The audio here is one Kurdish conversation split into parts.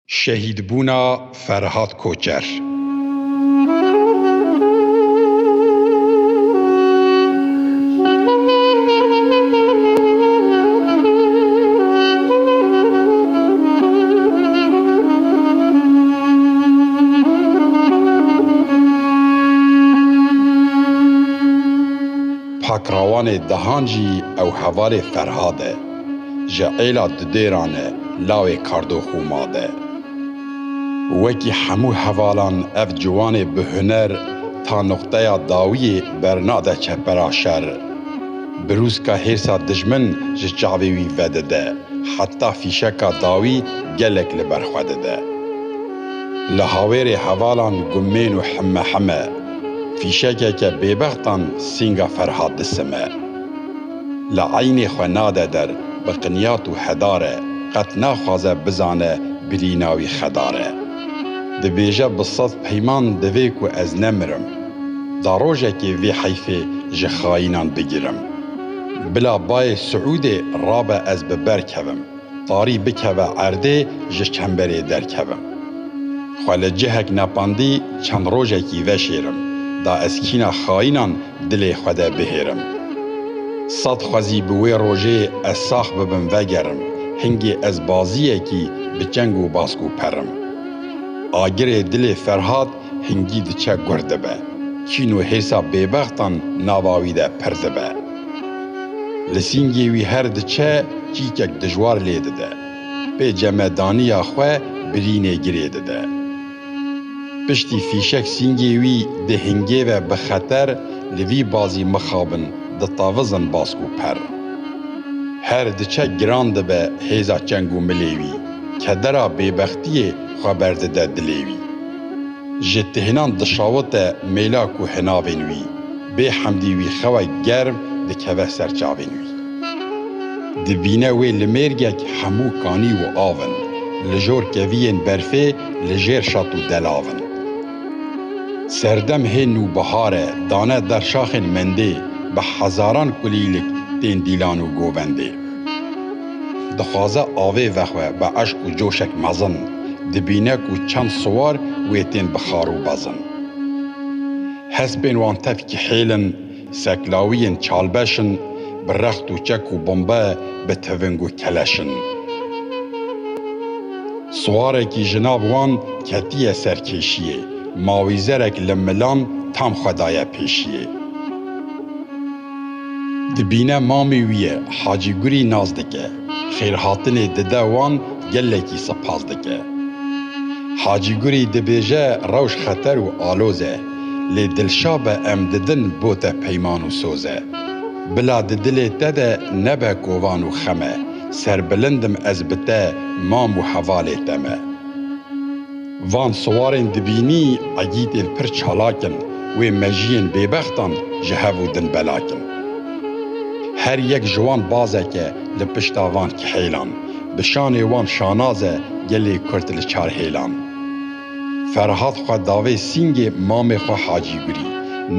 Şehîdbûna Ferhat Koçer. Pakrawanê dehan jî ew hevalê Ferhad e. ji êla di dêran e lawê kardox û ma de. Wekî hemû hevalan ev ciwanê bi huner ta nuqteya dawiyê bernade çepera şer. Birûska hêrsa dijmin ji çavê wî vedide, heta fîşeka dawî gelek li ber xwe dide. Li hawêrê hevalan gumên û hime hime, fîşekeke bêbextan sînga Ferhat disime. Li eynê xwe nade der bi qinyat û hedare, qet naxwaze bizane birîna wî xedare. Dibêje bi sed peyman divê ku ez nemirim. Da rojekê vê heyfê ji xayînan bigirim. Bila bayê Siûdê rabe ez bi ber kevim. Tarî bikeve erdê ji çemberê derkevim. Xwe li cihek nepandî çend rojekî veşêrim da ez kîna xayînan dilê xwe de bihêrim. Sed xwezî bi wê rojê ez sax bibim vegerim, hingê ez baziyekî bi çeng û bask û perim. Agirê dilê Ferhat hingî diçe gur dibe. Çîn û hêsa bêbextan nava wî de pir dibe. Li sîngê wî her diçe çîkek dijwar lê dide. Pê cemedaniya xwe birînê girê dide. Piştî fîşek sîngê wî di hingê ve bi xeter li vî bazî mixabin ditevizin bas û per. Her diçe giran dibe hêza çeng û milê wî. Kedera bêbextiyê xwe berdide dilê wî. ji tihînan dişawite mêla ku hinavên wî bê hemdî wî xewe germ dikeve ser çavên wî. Dibîne wê li mêrgek hemû kanî û av in, li jor keviyên berfê li jêr şat û delav in. Serdem hê nû bihar e, dane der şaxên mendê, bi hezaran kulîlik tên dîlan û govendê. Dixwaze avê vexwe bi eşq û coşek mezin, dibîne ku çend siwar wê tên bi xar û bezin. Hespên wan tevkî hêl in, seklawiyên çalbeş in, bi rext û çek û bombe bi tiving û keleş in. Siwarekî ji nav wan ketiye ser kêşiyê, mawîzerek li milan tam xwe daye pêşiyê. Dibîne mamê wî ye, Hacî Gurî nas dike, xêrhatinê dide wan gelekî sipas dike. Hacî Gurî dibêje rewş xeter û aloz e, lê dilşa be em didin bo te peyman û soz e. Bila di dilê te de nebe kovan û xem e, serbilind im ez bi te, mam û hevalê te me. Van siwarên dibînî egîtên pir çalak in, wê mejiyên bêbextan ji hev û din belak in. Her yek ji wan bazek e li pişta van kihêlan, bi şanê wan şanaz e gelê Kurd li çar hêlan. Ferhat xwe davê sîngê mamê xwe Hacî Gurî,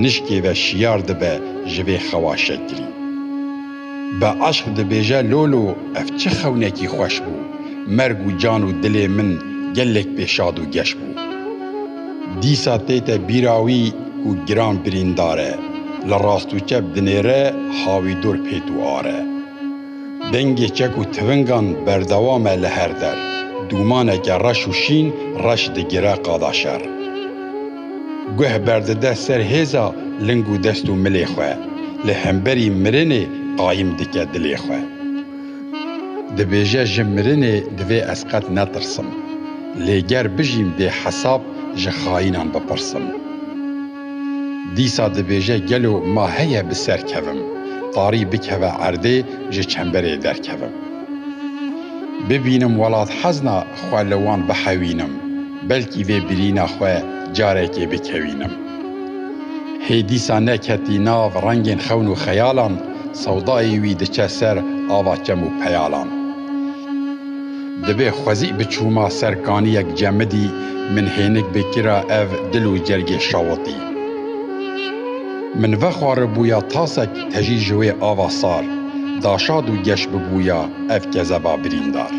nişkê ve şiyar dibe ji vê xewa şekirî. Bi eşq dibêje Lolo ev çi xewnekî xweş bû, merg û can û dilê min gelek pê şad û geş bû. Dîsa tê te bîra wî ku giran birîndar e, li rast û çep dinêre ha wî dor pêt û ar e. Dengê çek û tivingan berdewam e li her der, dûmaneke reş û şîn reş digire qada şer. Guh berdide ser hêza ling û dest û milê xwe, li hemberî mirinê qayim dike dilê xwe. Dibêje ji mirinê divê ez qet netirsim, lê ger bijîm dê hesab ji xayînan bipirsim. Dîsa dibêje gelo ma heye bi ser kevim, tarî bikeve erdê ji çemberê derkevim. Bibînim welat hezna xwe li wan bihewînim, belkî vê birîna xwe carekê bikewînim. Hê dîsa neketî nav rengên xewn û xeyalan, sewdayê wî diçe ser ava çem û peyalan. Divê xwezî biçûma ser kaniyek cemidî, min hênik bikira ev dil û cergê şawitî. Min vexwaribûya tasek tejî ji wê ava sar, daşad û geş bibûya ev kezeba birîndar.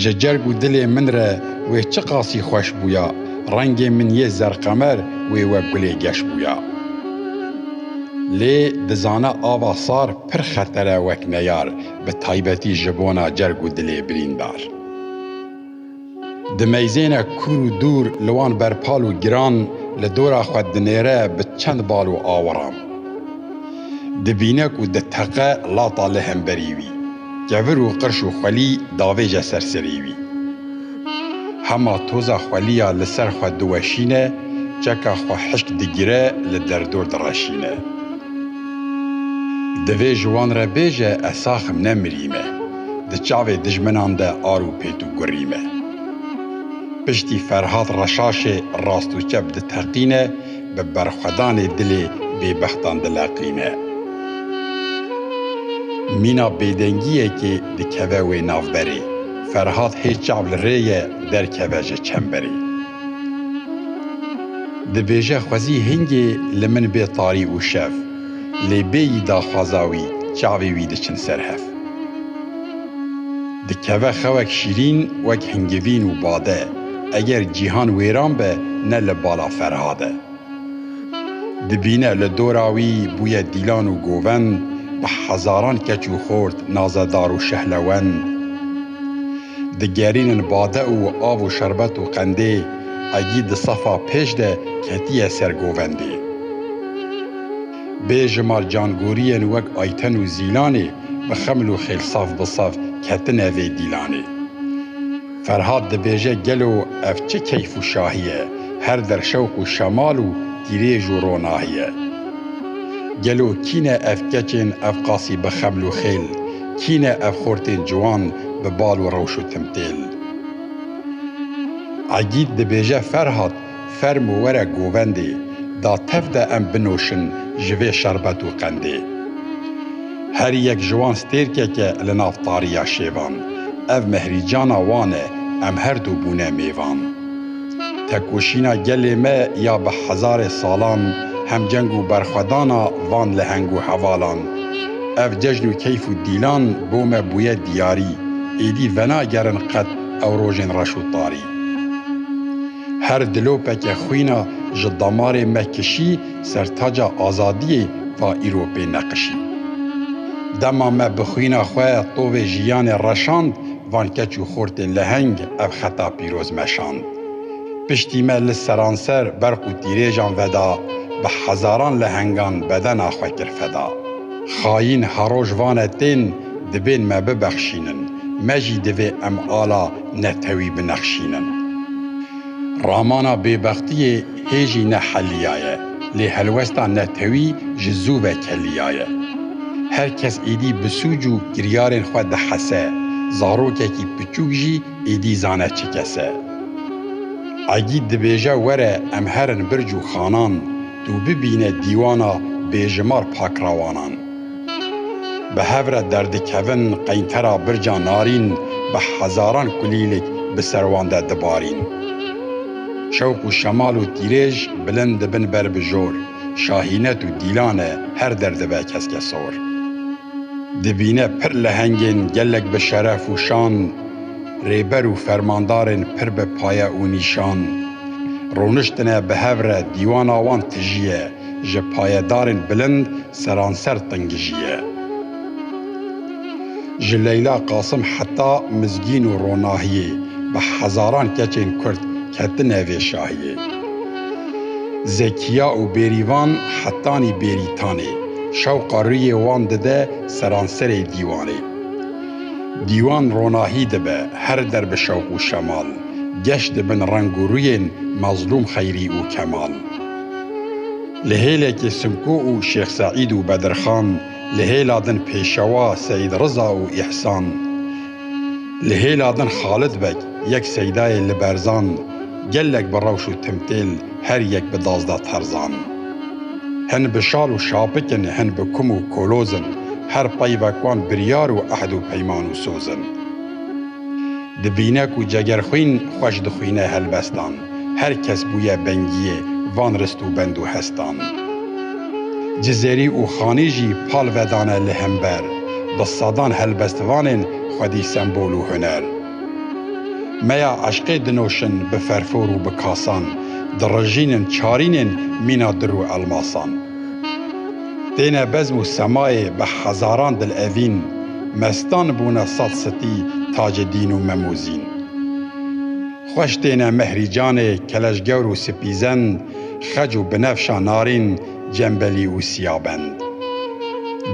Ji cerg û dilê min re wê çi qasî xweş bûya, rengê min yê zerqemer wê wek gulê geş bûya. Lê dizane ava sar pir xeter e wek neyar, bi taybetî ji bona cerg û dilê birîndar. Dimeyzêne kûr û dûr li wan berpal û giran li dora xwe dinêre bi çend bal û awiran. Dibîne ku diteqe lata li hemberî wî. Kevir û qirş û xwelî davêje ser serê wî. Hema toza xwelîya li ser xwe diweşîne, çeka xwe hişk digire li derdor direşîne. Divê ji wan re bêje ez sax im ne mirî me. Di çavê dijminan de ar û pêt û gurî me. Piştî Ferhat Reşaşê rast û çep diteqîne, Bi berxwedanê dilê bêbextan dileqîne. Mîna bêdengiyekê dikeve wê navberê. Ferhat hê çav li rê ye derkeve ji çemberê. Dibêje xwezî hingê li min bê tarî û şev. Lê bêyî daxwaza wî, çavê wî diçin ser hev. Dikeve xewek şîrîn wek hingivîn û bade. Eger cîhan wêran be ne li bala Ferhad e. Dibîne li dora wî bûye dîlan û govend, bi hezaran keç û xort nazedar û şehlewend. Digerînin bade û av û şerbet û qendê, egî di sefa pêş de ketiye ser govendê. Bê jimar cangoriyên wek Ayten û Zîlanê bi xeml û xêlsaf bi saf ketine vê dîlanê. Ferhat dibêje gelo ev çi keyf û şahî ye, her der şewq û şemal û tîrêj û ronahî ye. Gelo kî ne ev keçên ev qasî bi xebl û xêl, kî ne ev xortên ciwan bi bal û rewş û timtêl. Egîd dibêje Ferhat Fermo were govendê, da tev de em binoşin ji vê şerbet û qendê. Her yek ji wan stêrkek e li nav tariya şêvan. Ev mehrîcana wan e, em her du bûne mêvan. Tekoşîna gelê me ya bi hezarê salan, hemceng û berxwedana van leheng û hevalan. Ev cejn û keyf û dîlan bo me bûye diyarî, êdî venagerin qet ew rojên reş û tarî. Her dilopeke xwîna ji damarê me kişî sertaca azadiyê va îro pê neqişî. Dema me bi xwîna xwe tovê jiyanê reşand van keç û xortê leheng ev xeta pîroz meşand. Piştî me li seranser berq û tîrêjan veda bi hezaran lehengan bedena xwe kir feda. Xayîn heroj vane tên dibên me bibexşînin, me jî divê em ala netewî binexşînin. Ramana bêbextiyê hê jî ne heliya ye, lê helwesta netewî ji zû ve keliya ye. Her kes êdî bi sûc û kiryarên xwe dihese, zarokekî piçûk jî êdî zane çi kes e. Egîd dibêje were em herin birc û xanan, tu bibîne dîwana bêjimar pakrawanan. Bi hev re derdikevin qeyntera birca Narîn bi hezaran kulîlek bi ser wan de dibarîn. Şewq û şemal û tîrêj bilind dibin ber bi jor, şahînet û dîlane her der dibe keske sor. Dibîne pir lehengên gelek bi şeref û şan, rêber û fermandarên pir bi paye û nîşan. Roniştine bi hev re dîwana wan tijî ye. ji payedarên bilind seranser tengijî ye. Ji Leyla Qasim heta Mizgîn û Ronahiyê bi hezaran keçên Kurd ketine vê şahiyê. Zekiya û Bêrîvan hetanî Bêrîtanê şewqa rûyê wan dide seranserê dîwanê. Dîwan ronahî dibe her der bi şewq û şemal, geş dibin reng û rûyên Mezlûm Xeyrî û Kemal. Li hêlekê Simko û Şêx Seîd û Bedirxan, li hêla din Pêşewa Seîd Riza û Îhsan, li hêla din Xalid Beg yek seydayê li berzan, gelek bi rewş û timtêl, her yek bi dazda terzan. Hin bi şal û şapik in, hin bi kum û koloz in, her peyvek wan biryar û ehd û peyman û soz in. Dibîne ku cegerxwîn xweş dixwîne helbestan, her kes bûye bengiyê van rist û bend û hestan. Cizêrî û Xanî jî pal vedane li hember, bi sedan helbestvanên xwedî sembol û huner. Meya eşqê dinoşin bi ferfor û bi kasan, dirijînin çarînên mîna dir û elmasan. Têne bezm û semayê bi hezaran dil evîn, mestan bûne sed sitî tacê dîn û memozîn. Xweş têne mehrî canê keleşgewr û sipîzend, xec û binefşa narîn, cembelî û siyabend.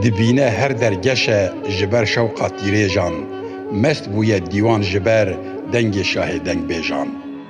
Dibîne her der geşe ji ber şewqa tîrêjan, mest bûye dîwan ji ber dengê şahê dengbêjan.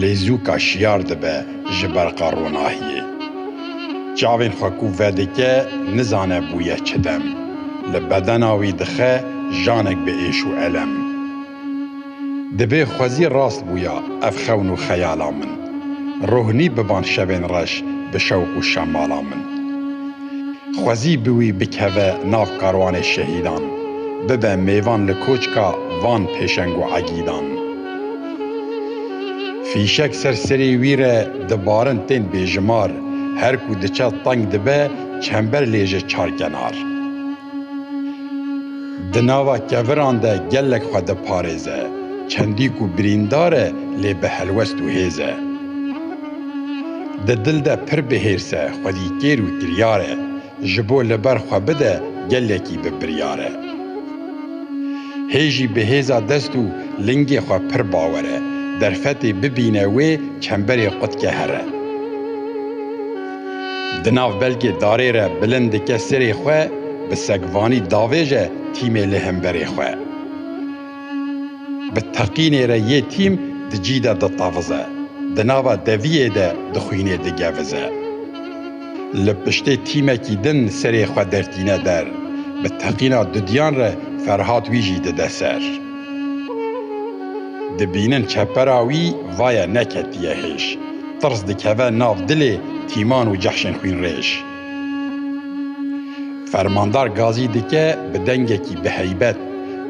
Lêzûka şiyar dibe ji berqa ronahiyê. Çavên xwe ku vedike nizane bûye çi dem. Li bedena wî dixe janek bi êş û elem. Dibê xwezî rast bûya ev xewn û xeyala min. Rohnî biban şevên reş bi şewq û şemala min. Xwezî bi wî bikeve nav karwanê şehîdan. Bibe mêvan li koçka van pêşeng û egîdan. Fîşek ser serê wî re dibarin tên bêjimar, her ku diçe teng dibe çember lê jê çar kenar. Di nava keviran de gelek xwe diparêze, çendî ku birîndar e lê bi helwest û hêz e. Di dil de pir bi hêrs e, xwedîkêr û kiryar e. Ji bo li ber xwe bide gelekî bi biryar e. Hê jî bi hêza dest û lingê xwe pir bawer e, derfetê bibîne wê çemberê qutke here. Di nav belgê darê re bilind dike sirê xwe, bi segvanî davêje tîmê li hemberê xwe. Bi teqînê re yê tîm di cî de ditavize, di nava deviyê de dixwînê digevize. li piştê tîmekî din serê xwe dertîne der, bi teqîna dudiyan re Ferhat wî jî dide ser. Dibînin çepera wî vaye neketiye hêj, tirs dikeve nav dilê tîman û cehşên xwînrêj. Fermandar Gazî dike bi dengekî biheybet,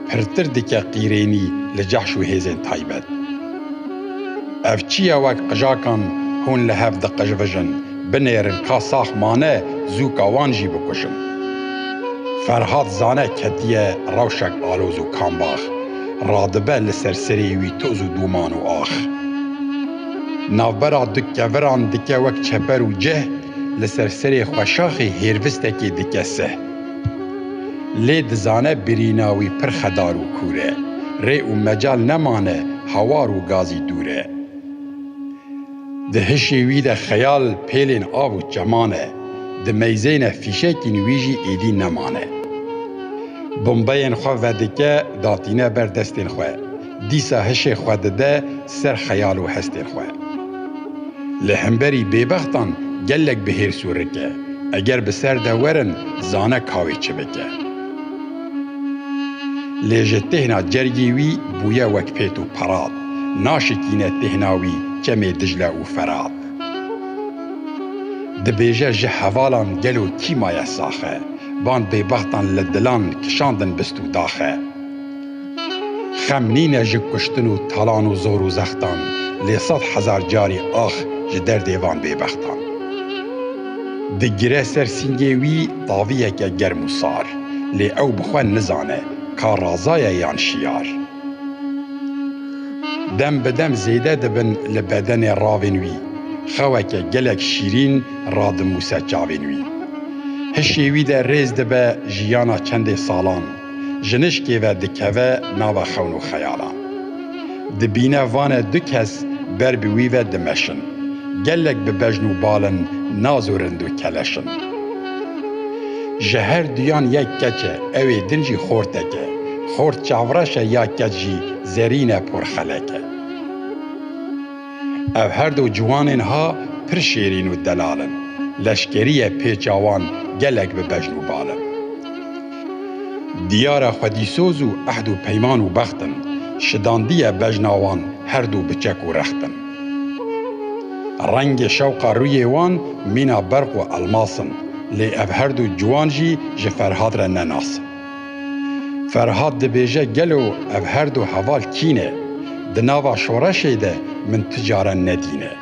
pirtir dike qîrênî li cehş û hêzên taybet. Ev çi ye wek qijakan hûn li hev diqijvijin, Binêrin ka sax mane zû ka wan jî bikuşin. Ferhat zane ketiye rewşek aloz û kambax, radibe li ser serê wî toz û dûman û ax. Navbera du keviran dike wek çeper û cih, li ser serê xweşaxê hêrvistekê dike sih. Lê dizane birîna wî pir xedar û kûr e, rê û mecal nemane hawar û gazî dûr e. Di hişê wî de xeyal pêlên av û çeman e, di meyzê ne fîşekîn wî jî êdî nemane. Bombeyên xwe vedike, datîne ber destên xwe, dîsa hişê xwe dide ser xeyal û hestên xwe. Li hemberî bêbextan gelek bi hêrs û rik e, eger bi ser de werin zane ka wê çi bike. Lê ji têhna cergê wî bûye wek pêt û perat. naşikîne têhna wî çemê Dicile û Ferat. Dibêje ji hevalan gelo kî maye saxe, van bêbextan li dilan kişandin bist û daxe. Xem nîne ji kuştin û talan û zor û zextan, lê sed hezar carî ax ji derdê van bêbextan. Digire ser sîngê wî taviyeke germ û sar, lê ew bi xwe nizane ka razaye yan şiyar. Dem bi dem zêde dibin li bedenê ravên wî. Xeweke gelek şîrîn radimûse çavên wî. Hişê wî de rêz dibe jiyana çendê salan, jinişkê ve dikeve nava xewn û xeyalan. Dibîne vane du kes ber bi wî ve dimeşin. Gelek bi bejn û bal in, naz û rind û keleş in. Ji her duyan yek keç e, ew ê din jî xortek e. Xort çavreş e ya keç jî zerîn e por xelek e. Ev her du ciwanên ha pir şêrîn û delal in. Leşkerîye pê çawan gelek bi bejn û bal in. Diyar e xwedîsoz û ehd û peyman û bext in. Şidandiye bejna wan her du bi çek û rext in. Rengê şewqa rûyê wan mîna berq û elmas in. Lê ev her du ciwan jî ji Ferhad re ne nas in. Ferhat dibêje gelo ev her du heval kî ne? Di nava şoreşê de min tu care nedîne.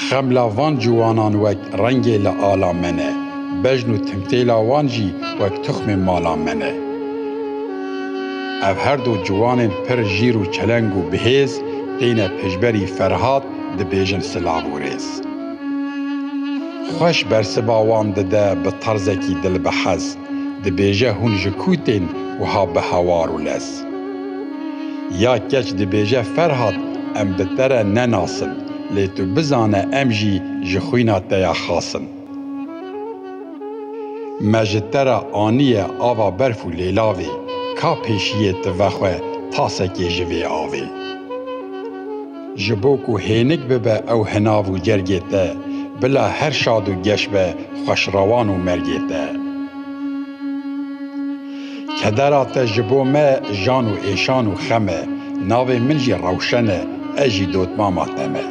Xemla van ciwanan wek rengê li ala me ne, bejn û timtêla wan jî wek tuxmê mala me ne. Ev her du ciwanên pir jîr û çeleng û bihêz têne pêşberî Ferhat dibêjin silav û rêz. Xweş bersiva wan dide bi tarzekî dil bi hez, dibêje hûn ji kû tên wiha bi hewar û lez. Ya keç dibêje Ferhat em bi te re ne nas in, lê tu bizane em jî ji xwîna te ya xas in. Me ji te re aniye ava berf û lêlavê, ka pêşiyê ti vexwe tasekê ji vê avê. Ji bo ku hênik bibe ew hinav û cergê te, bila her şad û geş be xweş rewan û mergê te. Kedera te ji bo me jan û êşan û xem e, navê min jî Rewşen e, ez jî dotmama te me.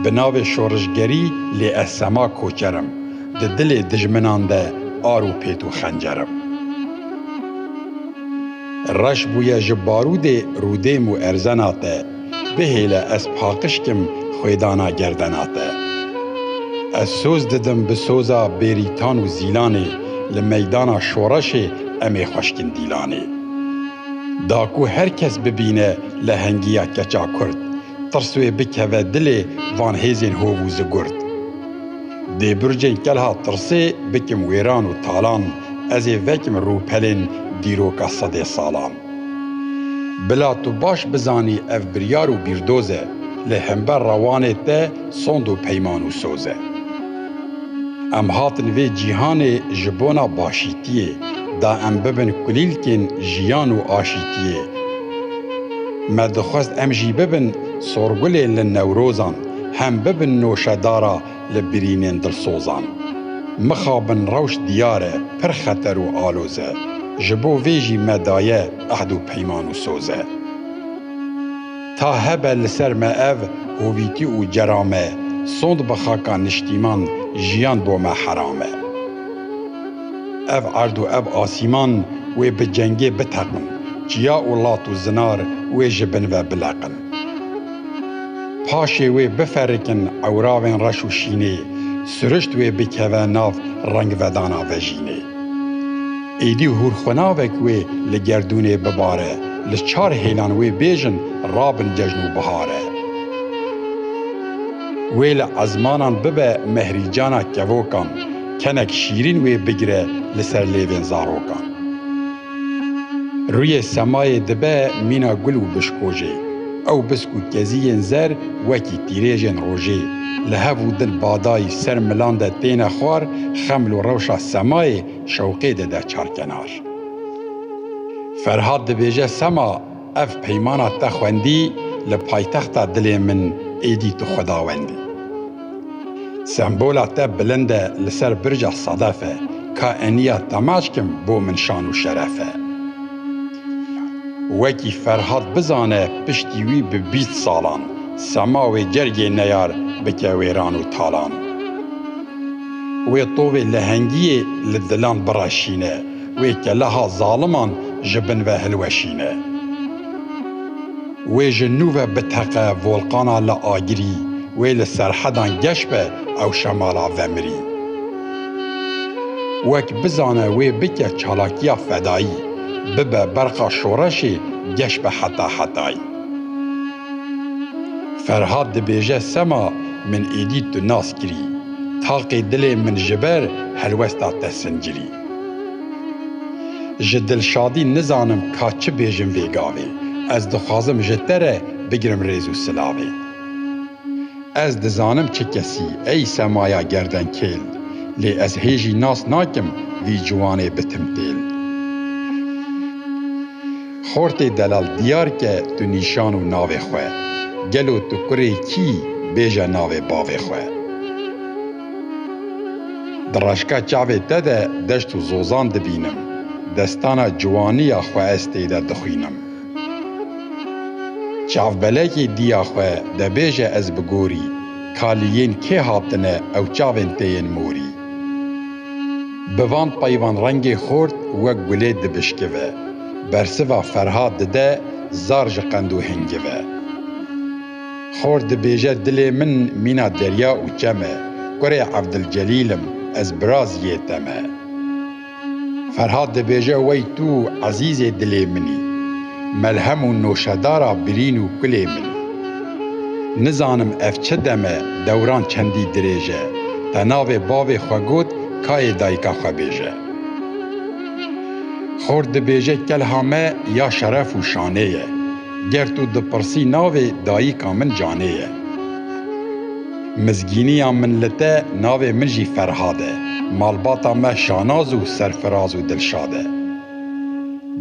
Bi navê şorişgerî lê ez sema koçer im, di dilê dijminan de ar û pêt û xencer im. Reş bûye ji barûdê rûdêm û erzena te, bihêle ez paqişkim xwêdana gerdena te. Ez soz didim bi soza bêrîtan û zîlanê, li meydana şoreşê em ê xweşkin dîlanê. Da ku her kes bibîne lehengiya keça kurd, tirs wê bikeve dilê van hêzên hov û zigurd. Dê bircên kelha tirsê bikim wêran û talan, ez ê vekim rûpelên dîroka sedê salan. Bila tu baş bizanî ev biryar û bîrdoz e, lê hember re wanê te sond û peyman û soz e. Em hatin vê cîhanê ji bona başîtiyê, da em bibin kulîlkên jiyan û aşîtiyê. Me dixwest em jî bibin sorgulên li Newrozan. hem bibin noşedara li birînên dilsozan. Mixabin rewş diyar e, pir xeter û aloz e. Ji bo vê jî me daye ehd û peyman û soz e. Ta hebe li ser me ev hovîtî û cera me sond bi xaka niştîman jiyan bo me heram e. Ev erd û ev asîman wê bi cengê biteqin, çiya û lat û zinar wê ji bin ve bileqin. Paşê wê biferikin ewravên reş û şînê, sirişt wê bikeve nav rengvedana vejînê. Êdî hûrxwenavek wê li gerdûnê bibare, li çar hêlan wê bêjin rabin cejn û bihare. Wê li ezmanan bibe mehrîcana kevokan, kenek şîrîn wê bigire li ser lêvên zarokan. Rûyê semayê dibe mîna gul û bişkojê. Ew bisk û keziyên zer wekî tîrêjên rojê, li hev û dil badayî ser milan de têne xwar, xeml û rewşa semayê şewqê dide çarkenar. Ferhat dibêje sema Ev peymana te xwendî li paytexta dilê min êdî tu xwedawendî. Sembola te bilind e li ser birca sedef e ka eniya temaşkim bo min şan û şeref e. Wekî Ferhat bizane piştî wî bi bîst salan sema wê cergê neyar bike wêran û talan. Wê tovê lehengiyê li dilan bireşîne. Wê keleha zaliman ji bin ve hilweşîne. Wê ji nû ve biteqe volqana li agirî, wê li serhedan geş be ew şemala vemirî. Wek bizane wê bike çalakiya fedayî, bibe berqa şoreşê geş be heta hetayî. Ferhad dibêje sema min êdî tu nas kirî, taqê dilê min ji ber helwesta te sincirî. Ji Dilşadî nizanim ka çi bêjim vê gavê. Ez dixwazim ji te re bigirim rêz û silavê. Ez dizanim çi kesî ey semaya gerdenkêl, lê ez hê jî nas nakim vî ciwanê bitim têl. Xortê delal diyar ke tu nîşan û navê xwe. Gelo tu kurê kî bêje navê bavê xwe. Di reşka çavê te de deşt û zozan dibînim, destana ciwaniya xwe ez tê de dixwînim. Çavbelekê diya xwe debêje ez bi gorî, kalî yên kê hatine ew çavên tê yên morî. Bi van peyvan rengê xort wek gulê dibişkive, bersiva ferha dide zar ji qend û hingive. Xort dibêje dilê min mîna derya û çem e, kurê Evdilcelîl im, ez birazî yê te me. Ferhat dibêje wey tu ezîzê dilê min î, melhem û noşedara birîn û kulê min. Nizanim ev çi dem e, dewran çendî dirêj e, te navê bavê xwe got kayê dayika xwe bêje. Xort dibêje kelha me ya şeref û şanê ye. Ger tu dipirsî navê dayîka min Canê ye. Mizgîniya min li te navê min jî Ferhad e. Malbata me şanaz û serfiraz û dilşad e.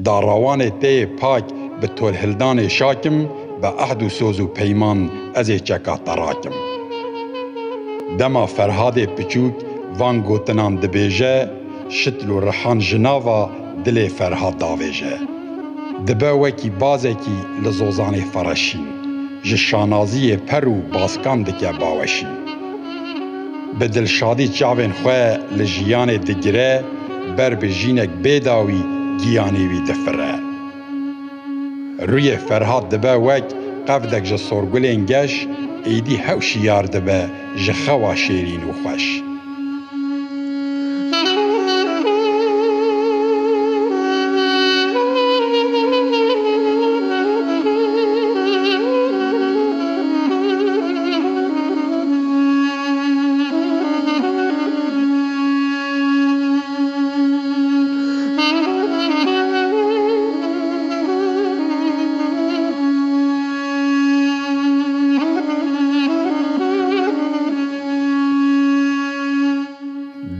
Darawanê te yê pak bi tolhildanê şak im, bi ehd û soz û peyman ez ê çeka te rakim. Dema Ferhadê piçûk van gotinan dibêje, şitl û rihan ji nava. Dilê Ferhat davêje. Dibe wekî bazekî li zozanê xwe re şîn, ji şanaziyê per û baskan dike baweşîn. Bi dilşadî çavên xwe li jiyanê digire, ber bi jinek bê dawî giyanê wî difire. Rûyê Ferhat dibe wek qevdek ji sorgulên geş, êdî hew şiyar dibe ji xewa şêrîn û xweş.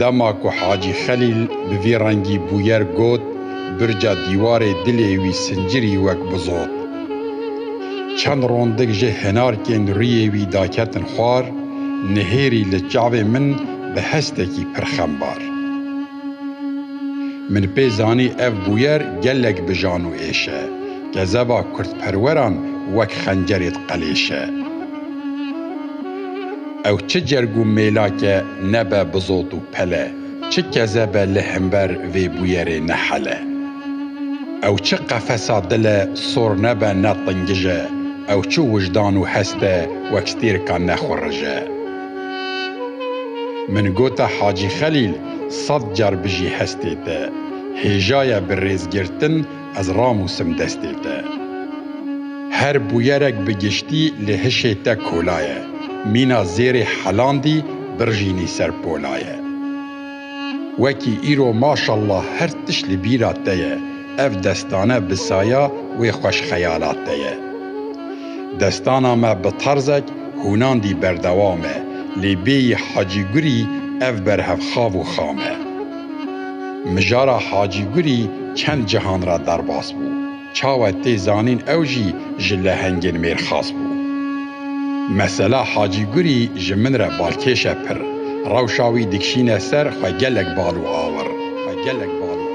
Dema ku Hacî Xelîl bi vî rengî bûyer got, birca dîwarê dilê wî sincirî wek bizot. Çend rondik ji hinarkên rûyê wî daketin xwar, nihêrî li çavê min bi hestekî pir xembar. Min pê zanî ev bûyer gelek bi jan û êş e. Gezeba kurdperweran wek xencerê diqelêşe. Ew çi cerg û mêlake nebe bi zot û pele, çi keze be li himber vê bûyerê nehele. Ew çi qefesa dile sor nebe ne tingije, ew çi wijdan û heste wek stêrka nexurije. Min gote Hacî Xelîl sed car bijî hestê te. Hêjaye bi rêzgirtin ez ramûsim destê te. Her bûyerek bi giştî li hişê te kolaye. Mîna zêrê helandî birjînî ser polaye. Wekî îro maşallah her tişt li bîra te ye, ev destane bi saya wê xweş xeyala te ye. Destana me bi tarzek hûnandî berdewam e, lê bêyî Hacî Gurî ev berhevxav û xam e. Mijara Hacî Gurî çend cihan re derbas bû. Çawa tê zanîn ew jî ji lehengên mêr xas bû. Mesela Hacî Gurî ji min re balkêş e pir. Rewşa wî dikşîne ser xwe gelek bal û awir. Xwe gelek bal û